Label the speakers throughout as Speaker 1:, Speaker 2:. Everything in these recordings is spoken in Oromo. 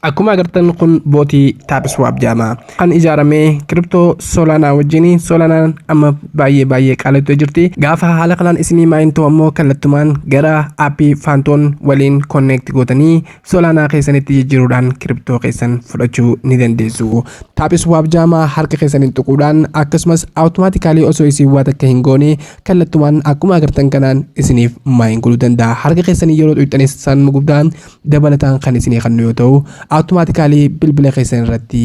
Speaker 1: Akkuma agartan kun bootii Tapswap jedhama. Kan ijaarame kiriptoo Solana wajjin Solanaan amma baay'ee baay'ee qaalattee jirti. Gaafa haala kanaan isinii maayin ta'u ammoo kallattumaan gara aappii Faantoon waliin konneekti gootanii Solanaa keessanitti jijjiiruudhaan kiriptoo keessan fudhachuu ni dandeessu. Tapswap jedhama harka keessaniin tuquudhaan akkasumas awutomaatikaalii osoo isin waa takka hin goone kallattumaan akkuma agartan kanaan isiniif maayin godhuu danda'a. Harka keessanii yeroo tuqxanis sanuma guddaa dabalataan kan isinii kennu yoo ta'u automatically bilbila keessan irratti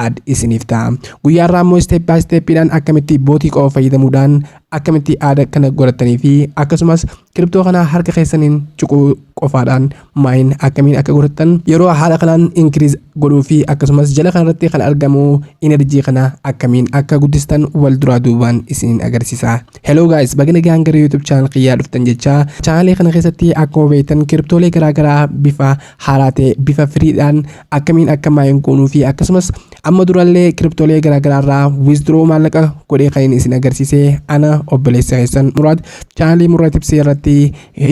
Speaker 1: add isiniif ta'a guyyaa irraa immoo step by step dhaan akkamitti bootii qofa fayyadamuudhaan akkamitti add kana godhattanii fi akkasumas kiriptoo kana harka keessaniin cuquu qofaadhaan maayin akkamiin akka godhattan yeroo haala kanaan increase godhuu fi akkasumas jala kanarratti kan argamu energy kana akkamiin akka guddistan wal duraa duubaan isiniin agarsiisa Hello guys, baga nagaan gara YouTube channel kiyyaa dhuftan jechaa channel kana keessatti akkuma beektan kiriptoolee garaagaraa bifa haaraa ta'e bifa firiidhaan akkamiin akka maayin goonuu fi akkasumas amma durallee kiriptoolee garaagaraa irraa withdraw maallaqa godhee kan isin agarsiise ana obboleessa keessan muraad channel muraad tibsee irratti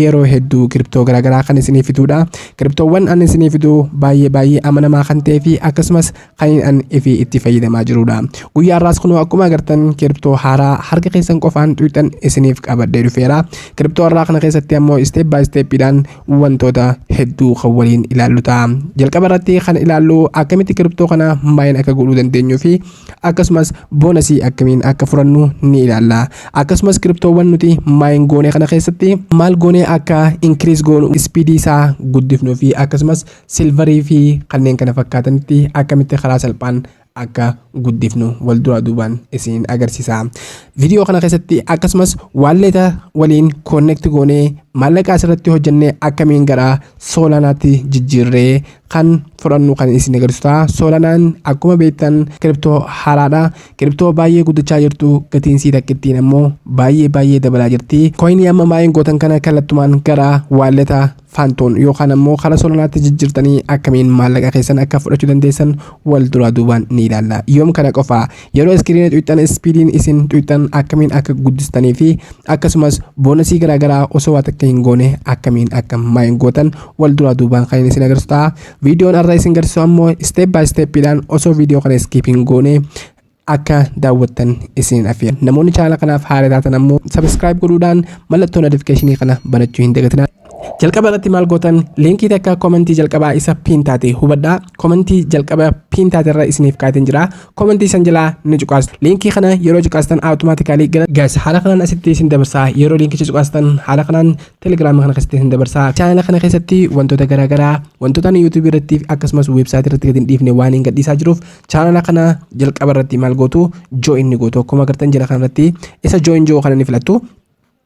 Speaker 1: yeroo hedduu kiriptoo garaagaraa kan isinii fiduudha. Kiriptoowwan ani isinii fidu baay'ee baay'ee amanamaa kan ta'ee fi akkasumas kan an ifi itti fayyadamaa jirudha. Guyyaa har'aas kunoo akkuma agartan kiriptoo haaraa harka keessan qofaan tuqxan isiniif qabadhee dhufeera. Kiriptoo har'aa kana keessatti ammoo isteep baay isteeppiidhaan wantoota hedduu kan waliin ilaallu ta'a. Jalqaba irratti kan ilaallu akkamitti kiriptoo kana maayin akka godhuu dandeenyuu fi akkasumas boonasii akkamiin akka furannu ni ilaalla. Akkasumas kiriptoowwan nuti maayin goone kana keessatti maal goonee akka inkiriis goonu ispiidii isaa guddifnuu fi akkasumas silvarii fi kanneen kana fakkaatanitti akkamitti karaa salphaan akka guddifnu wal duraa duubaan isiniin agarsiisa. Viidiyoo kana keessatti akkasumas waalleeta waliin koonnekti goonee maallaqa asirratti hojjennee akkamiin gara soolaanaatti jijjiirree kan fudhannu kan isin agarsiisu ta'a. Soolanaan akkuma beektan kiriptoo haaraadha. Kiriptoo baay'ee guddachaa jirtu gatiin sii takkittiin ammoo baay'ee baay'ee dabalaa jirti. Kooyinii amma maayin gootan kana kallattumaan gara waalleeta Faantoon yookaan ammoo kara Solanaatti jijjirtanii akkamiin maallaqa keessan akka fudhachu dandeessan wal duraa duubaan ni ilaalla. Yoom kana qofa? Yeroo iskiriina xuqxan ispiidiin isin xuqxan akkamiin akka guddistanii fi akkasumas boonasii garaa garaa osoo waa takka hin goone akkamiin akka maayin gootan wal duraa duubaan kan isin agarsiisu ta'a. Viidiyoon har'a isin garsiisu ammoo step by step dhaan osoo viidiyoo kana skip hin goone Akka daawwattan isin afeera. Namoonni chaanala kanaaf haara taatan ammoo subscribe godhuudhaan mallattoo notification kana banachuu hin dagatinaa. Jalqaba irratti maal gootan liinkii takka komentii jalqabaa isa piin taate hubadhaa komentii jalqaba piin taate irra isiniif kaateen jira komentii san jalaa ni cuqaastu liinkii kana yeroo cuqaastan awutomaatikaalii gara gaas haala kanaan asitti isin dabarsaa yeroo liinkicha cuqaastan haala kanaan telegiraama kana keessatti isin dabarsaa chaanala kana keessatti wantoota garaagaraa wantoota ani yuutuubii irratti akkasumas weebsaayitii irratti gadi hin dhiifne waan hin gadhiisaa jiruuf Chaanala kana jalqaba irratti maal gootu join ni gootu akkuma agartan jala kanarratti isa join jiru kana ni filattu.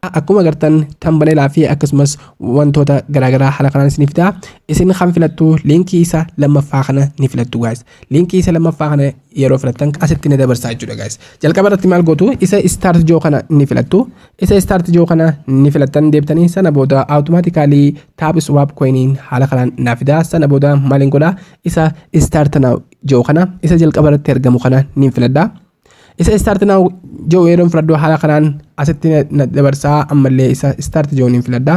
Speaker 1: Akkuma agartan tambaneelaa fi akkasumas wantoota garaagaraa haala kanaan isin fida. Isin kan filattu liinkii isa lammaffaa kana ni filattu guys. Liinkii isa lammaffaa kana yeroo filattan asitti ni dabarsaa jechuudha guys. Jalqaba irratti maal gootu isa start jiru kana ni filattu. Isa start jiru kana ni filattan deebitanii sana booda automatically taab swap coiniin haala kanaan naa fida. Sana booda maaliin godhaa isa start now jedhu kana isa jalqaba irratti argamu kana niin filadha. Isa start now jedhu yeroon filadhu haala kanaan asitti na- na dabarsaa ammallee isa start jedhu niin filadha.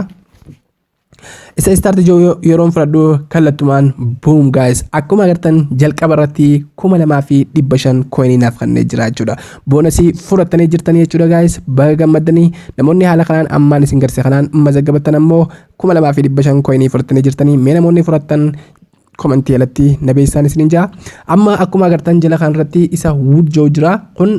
Speaker 1: Isa start jedhu yo- yeroon filadhu kallattumaan boom guys akkuma agartan jalqaba irratti kuma lamaa fi dhibba shan koinii naaf kannee jira jechuudha. Boonasii fudhattanii jirtanii jechuudha guys baga gammaddanii namoonni haala kanaan ammaan isin garse kanaan mazaggabattan ammoo kuma lamaa fi dhibba shan koinii fudhattanii jirtanii mee namoonni fudhattan komantii jalatti na beeksisaan isiniin jaa amma akkuma agartan jala kan irratti isa wood joo jira kun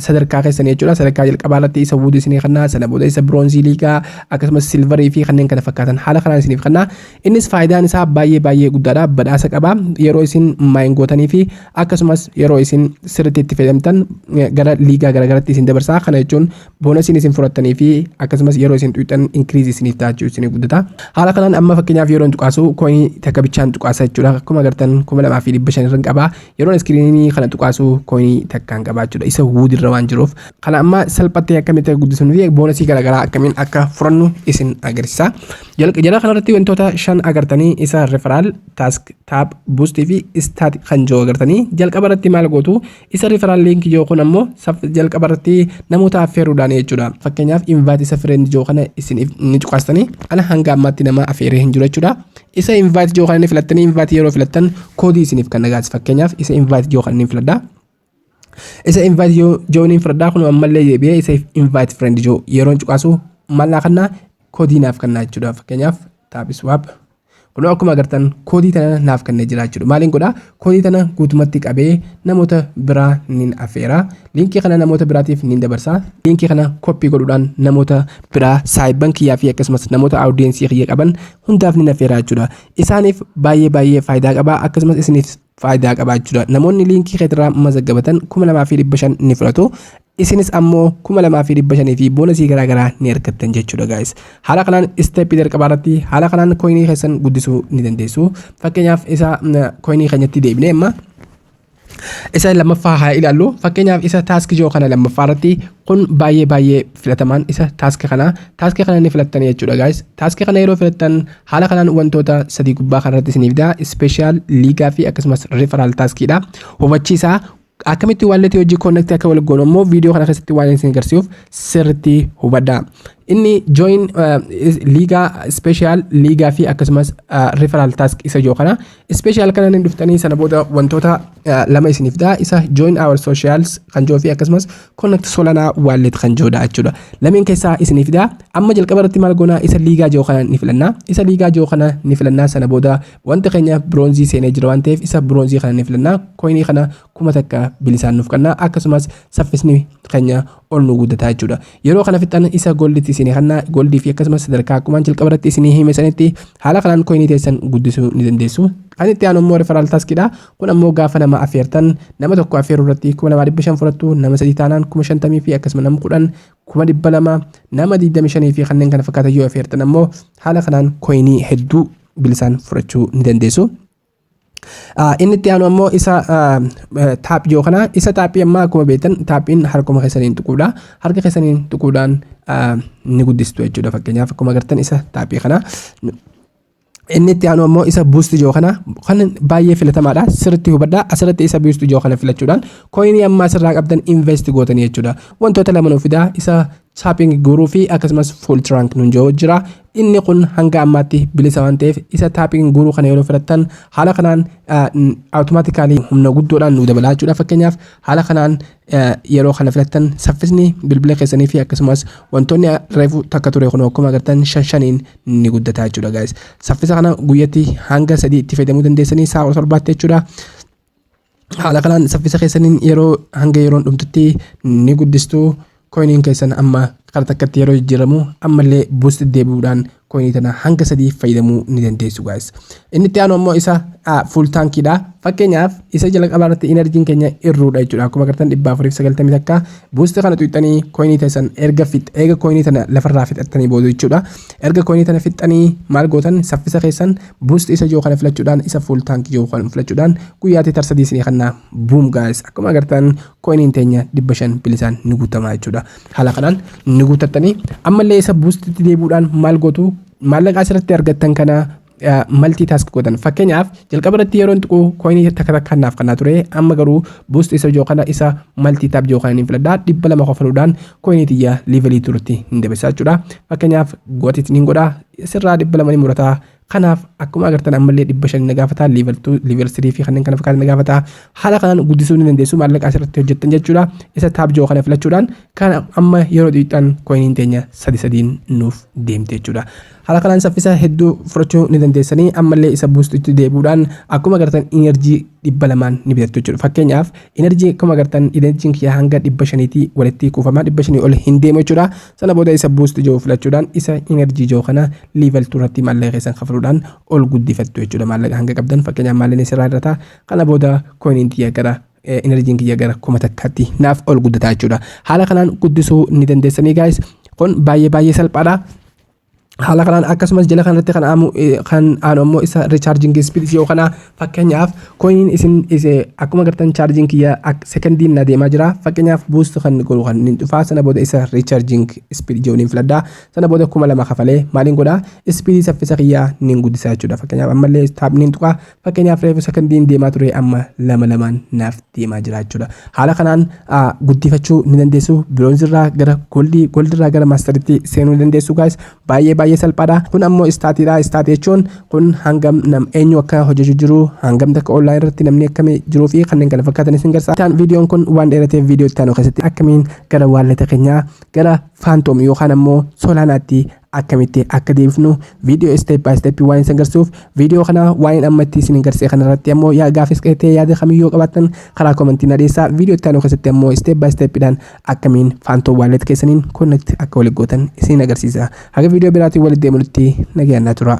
Speaker 1: sadarkaa keessan jechuudha sadarkaa jalqabaa irratti isa wood isinii kanna sana booda isa bronzii liigaa akkasumas silvarii fi kanneen kana fakkaatan haala kanaan isiniif kanna innis faayidaan isaa baay'ee baay'ee guddaadha badhaasa qaba yeroo isin maayin gootanii fi akkasumas yeroo isin sirriitti itti fayyadamtan gara liigaa garaagaratti isin dabarsaa kana jechuun boonasiin isin fudhattanii fi akkasumas yeroo isin tuqxan inkiriizi isiniif ta'a jechuudha isinii guddata. Haala kanaan amma fakkeenyaaf yeroo hin tuqaasu kooyinii takka bichaan tuqaasa jechuudha. Akkuma agartan kuma lamaa fi dhibba shan irra qaba. Yeroon iskiriinii kana tuqaasu kooyinii takkaan qaba jechuudha. Isa wuud irra waan jiruuf. Kana amma salphattee akkamitti akka guddisnu fi boonasii garaagaraa akkamiin akka fudhannu isin agarsiisa. Jala kanarratti wantoota shan agartanii isa referaal, taask, taab, buustii fi istaat kan jiru agartanii jalqaba irratti maal gootu Isa referral link joo kun ammoo jalqaba irratti namoota affeeruudhaan jechuudha. Fakkeenyaaf invite isa friend joo kana isin ni cuqaastanii ana hanga ammaatti nama affeeree hin jiru jechuudha. Isa invite joo kana ni filattanii invite yeroo filattan koodii isiniif kan dhagaasi fakkeenyaaf isa invite joo kana ni filadha. Isa invite joo ni filadha kun ammallee deebi'ee isa invite friend joo yeroon cuqaasu mallaa kannaa koodii naaf kannaa jechuudha fakkeenyaaf taabiswaap. Kunoo akkuma agartan koodii tana naaf kennee jira jechuudha. Maaliin godhaa? Koodii tana guutumatti qabee namoota biraa nin affeera. Liinkii kana namoota biraatiif nin dabarsa. Liinkii kana koppii godhuudhaan namoota biraa saayibban kiyyaa fi akkasumas namoota awudiyeensii kiyya qaban hundaaf nin affeera jechuudha. Isaaniif baay'ee baay'ee faayidaa qaba akkasumas isiniif faayidaa qaba jechuudha. Namoonni liinkii keetirraa mazaggabatan kuma lamaa fi dhibba shan ni fudhatu. isinis ammo 2500 fi boonasii garaa garaa ni argattan jechuudha guys haala kanaan step jalqabaa irratti haala kanaan coinii keessan guddisuu ni dandeessu fakkeenyaaf isa coinii keenyatti deebinee amma isa lammaffaa haa ilaallu fakkeenyaaf isa taaski jiru kana lammaffaa irratti kun baay'ee baay'ee filatamaan isa taaski kana taaski kana ni filattan jechuudha guys taaski kana yeroo filattan haala kanaan wantoota sadii gubbaa kanarratti isiniif daa ispeeshaal liigaa fi akkasumas referal taaskiidha hubachiisaa Akkamitti wallet hojii connect akka wal goonu immoo viidiyoo kana keessatti waan isin agarsiisuuf sirriitti hubadha. Inni join liigaa special liigaa fi akkasumas referral task isa ijoo kana. Special kana ni dhuftanii sana booda wantoota lama isiniif ta'a isa join our socials kan jiru fi akkasumas connect solana wallet kan jirudha jechuudha. Lameen keessaa isiniif ta'a. Amma jalqaba irratti maal goona isa liigaa jiru kana ni filanna. Isa liigaa jiru kana ni filanna sana booda Wanti keenya biroonzii seenee jira waan ta'eef isa biroonzii kana ni filannaa. Koinii kana kuma takka bilisaan nuuf kannaa akkasumas saffisni keenya ol nu guddataa jechuudha. Yeroo kana fixan isa golditti isinii kannaa goldii fi akkasumas sadarkaa akkumaan jalqaba irratti isinii hime sanitti haala kanaan koinii teessan guddisuu ni dandeessu. Kan itti aanu immoo referaal taaskidha. Kun ammoo gaafa nama affeertan nama tokko affeeruu irratti kuma lamaa dhibba shan fudhattu nama sadii taanaan kuma shantamii fi akkasuma nama kudhan kuma dhibba lama nama digdami shanii fi kanneen kana fakkaatan yoo affeertan ammoo haala kanaan koinii hedduu bilisaan fudhachuu ni dandeessu. Ah, Inni itti aanu ammoo isa ah, eh, taaphii yoo kana isa taaphii ammaa akkuma beektan taaphiin harkuma keessaniin tuquudha. Harka keessaniin tuquudhaan ah, ni guddistu jechuudha fakkeenyaaf akkuma agartan isa taaphii kana inni itti aanu ammoo isa buusti ijoo kana kan baay'ee filatamaadha sirriitti hubadhaa asirratti isa buusti ijoo kana filachuudhaan kooyinii ammaa asirraa qabdan invest gootanii jechuudha wantoota lama nuuf fidaa isa Tapping guuruu fi akkasumas full trunk nun jedhu jira. Inni kun hanga ammaatti bilisa waan ta'eef isa tapping guuruu kana yeroo filattan haala kanaan automatically humna guddoodhaan nu dabalaa jechuudha. Fakkeenyaaf haala kanaan yeroo kana filattan saffisni bilbila keessanii fi akkasumas wantoonni reefu takka ture kun akkuma agartan shan shaniin ni guddata jechuudha guys. Saffisa kana guyyatti hanga sadii itti fayyadamuu dandeessanii sa'a kudha torbaatti jechuudha. Haala kanaan saffisa keessaniin yeroo hanga yeroon dhumtutti ni guddistu. Koyiniin keessan amma kara takkatti yeroo jijjiiramu ammallee buust deebi'uudhaan koyinii tana hanga sadii fayyadamuu ni dandeessu gaayis. Inni itti aanu ammoo isa fuul taankiidha. Fakkeenyaaf isa jalqabaa irratti inarjiin keenya irruudha jechuudha. Akkuma agartan dhibba afuriif sagaltamii takka buusti kana tuqxanii koyinii teessan erga fix eega koyinii tana lafarraa fixattanii booda jechuudha. Erga koyinii tana fixxanii maal gootan saffisa keessan Boost isa ijoo kana filachuudhaan isa full tank ijoo kana filachuudhaan guyyaatti tar sadii isinii kanna boom guys akkuma agartan coinin teenya dhibba shan bilisaan ni guutamaa jechuudha haala kanaan ni guutattanii ammallee isa boostitti deebuudhaan maal gootu maallaqaa asirratti argattan kana maltii taask godhan fakkeenyaaf jalqaba irratti yeroon tuqu coinii takka takka naaf kannaa ture amma garuu boost isa ijoo kana isa maltii taab ijoo kana ni filadhaa dhibba lama kofaluudhaan koinii tiyya livelii turutti hin debisaa jechuudha fakkeenyaaf gotit niin godha sirraa dhibba lama ni murata kanaaf akkuma agartan ammallee dhibba shan na gaafata livel 2 livel 3 fi kanneen kana fakkaatan na gaafata haala kanaan guddisuu ni dandeessu maallaqa asirratti hojjettan jechuudha isa taab jiru kana filachuudhaan kan amma yeroo xiqqaan koiniin teenya sadi sadiin nuuf deemte jechuudha Haala kanaan saffisa hedduu fudhachuu ni dandeessanii ammallee isa buustutti deebi'uudhaan akkuma agartan energy dhibba lamaan ni bitattu jechuudha. Fakkeenyaaf energy akkuma agartan energy kiyya hanga dhibba shaniiti walitti kuufama dhibba shanii ol hin deemu jechuudha. Sana booda isa buustu jiru filachuudhaan isa energy jiru kana level 2 irratti maallaqa keessan kafaluudhaan ol guddifattu jechuudha. Maallaqa hanga qabdan fakkeenyaaf maallaqni sirraa irra ta'a. Kana booda koiniin tiyya gara enerjiin kiyya gara kuma takkaatti naaf ol guddataa jechuudha. Haala kanaan guddisuu ni dandeessanii guys. Kun baay'ee baay'ee salphaadha. haala kanaan akkasumas jala kanarratti kan aamu kan aanu ammoo isa richaarjingi ispiidis yoo kana fakkeenyaaf koyin isin ise akkuma gartan chaarjin kiyya sekondiin na deemaa jira fakkeenyaaf buustu kan godhu kan hin dhufaa sana booda isa richaarjing ispiid jooniin filadha sana booda kuma lama kafalee maaliin godha ispiidii saffisa kiyya nin guddisaa jechuudha fakkeenyaaf ammallee taapniin tuqa Fakkeenyaaf reefu sekondiin deemaa ture amma lama lamaan naaf deemaa jira jechuudha. Haala kanaan guddifachuu ni dandeessu. Biroonzi irraa gara goldii, goldii irraa gara maastaritti seenuu ni dandeessu gaayis. Baay'ee baay'ee salphaadha. Kun ammoo istaatiidha. Istaatii jechuun kun hangam nam eenyu akka hojjechuu jiru, hangam takka online irratti namni akkamii jiruu fi kanneen kana fakkaatan isin garsa. Taan viidiyoon kun waan dheerateef viidiyoo itti aanu keessatti akkamiin gara waalleta keenyaa gara faantoom yookaan ammoo soolaanaatti akkamitti akka deebifnu viidiyoo step by step waan isin garsiisuuf viidiyoo kana waa'een amma itti isin garsee kana irratti ammoo yaa gaafis qeetee yaada kamiyyoo qabaattan karaa komentii na dhiyeessaa viidiyoo itti aanu keessatti ammoo step by step dhaan akkamiin faantoo waallet keessaniin connect akka walitti gootan isin agarsiisa haga viidiyoo biraatiin walitti deemunutti nagayaan naa turaa.